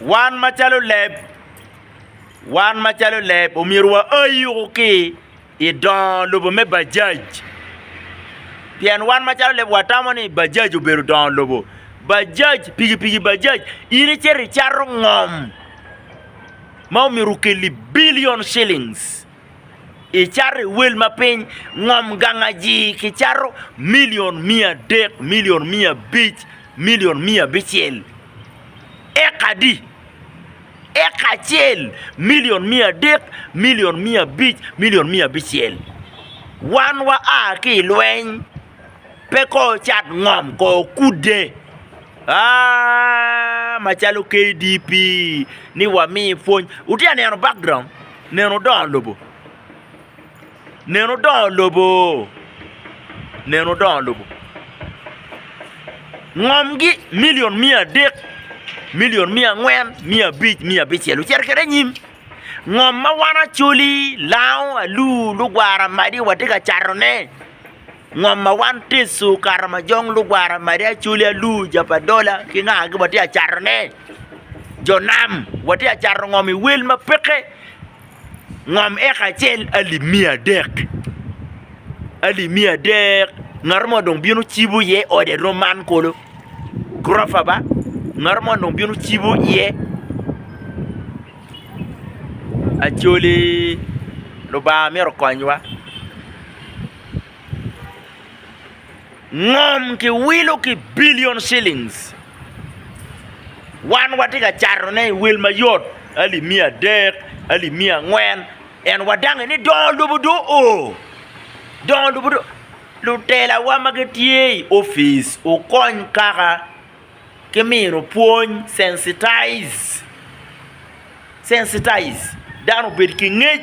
Wan macalo leb, wan macalo leb omyero wa a yuku ki i dongo lobo me Bajaj, pien wan macalo leb wa tamo ni Bajaj obedo dongo lobo. Bajaj piki piki Bajaj in icito icato ngom ma omyero okelli billion shillings. icato i wel ma piny ngom gangaji kicato milion miya adek milion miya abic milion miya abicel eka di eka acel milion miya adek milion miya abic milion miya abicel wan wa a ki ilweny pe ko ocat ngom ko okude aa macalo KDP ni wami pwony wutye ka neno background. Neno dongo lobo. Neno dongo lobo. Neno dongo lobo. Ngomgi milion miya adek, milion miya angwen, miya abic, miya abicel ocito kwede anyim. Ngom ma wan Acholi, Lango, Alur, Lugwara, Madi watye ka catone. Ngom ma wan ticu kato ma jong lugwara madi acoli alu ja pa dola ki nga gi watye acato ne jo nam watye acato ngom i wel ma peke ngom eka acel alip miya adek alip miya adek ngato mo dong bino cibo iye ode rom man kulu gurofa ba ngato mo dong bino cibo iye acoli lubanga myero okonywa. ngom ki wilo ki billion shillings wan watye ka cato ne i wil mayot alip miya adek alip miya angwen en wadange ni dongo lobo do o dongo lobo do lutela wa ma gitye i office wukony kaka ki mino pwony sensitize sensitize dano obed ki ngec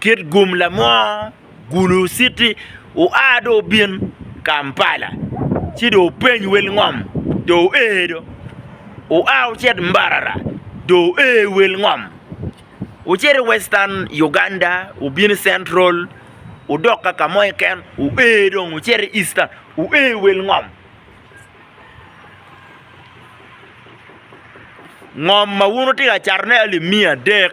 Kit gum lamor gulu citi oa do obin kampala ci do openy wel ngom do oer do oa ocit mbarara do oer wel ngom ocit i western Uganda obin i central odok ka kamo keken oer dong ocit i eastern oer wel ngom, ngom ma wun wutye ka cato ne aye limiya adek.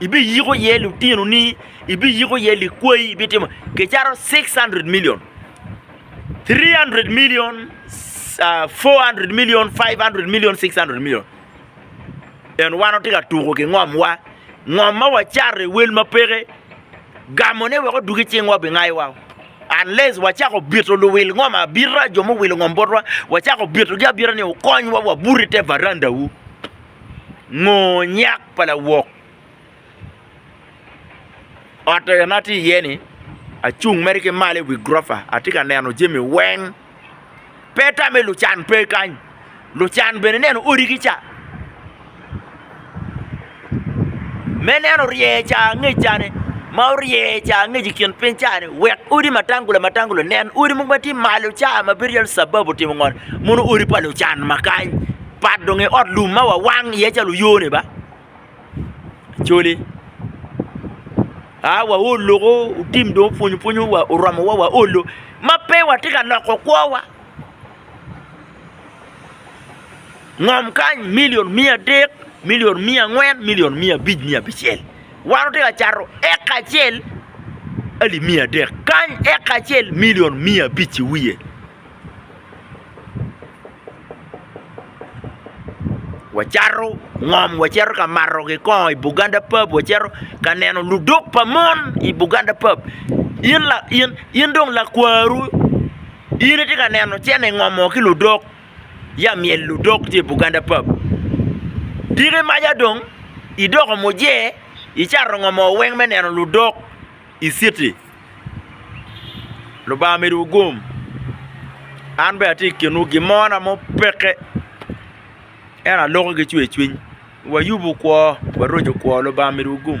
Ibiyiko iye lutinoni, ibiyiko iye likwayi, ibitimo kicato 600 milion, 300 milion, 400 milion, 500 milion, 600 milion. En wan watye ka tuko ki ngomwa, ngom ma wacato i wel ma peke, gamone wek odwogi cingwa obingayowa. Unless wacako bito luwil ngom abita, jo muwilo ngom botwa, wacako bitogi abita ni wukonywa wabuto i te varandawu. Ngo nyak pa lawok ot eni ma atye iye-ni acung mere ki malo i wi gurofa atye ka neno jami weng pe tamme lucan pe kany lucan bene ineno odigi ca me neno rye ca angec cani ma orye ca angec i kin piny cani wek odi matangula matangula nen odi mogo ma tye malo ca ma bedo calo cababu otimo ngo mono odi pa lucan ma kany. pat dong i ot lum ma wawang iye calo oyone ba cole a waol loko otim dong opwonyo pwonyo wa oromo wa waolo ma pe watye ka loko kwowa ngom kany milion miya adek milion miya angwen milion miya abic miya abicel wan watye ka cato eka acel alip miya adek kany eka acel milion miya abic iwiye. wacato ngom waceto ka mato kikongo i Buganda pub waceto ka neno ludok pa mon i Buganda pub in dong lakwaru in itye ka neno cene ingomo ki ludok ya myel ludok tye i Buganda pub tika imaca dong idoko muje icato ngomo weng me neno ludok i citi. Lubanga omedo wu gum. An bene atye i kinwu gin mo na mupekke ento aloko ki cwercwiny. Wayub kwo, waroco kwo. Lubanga omedo wu gum.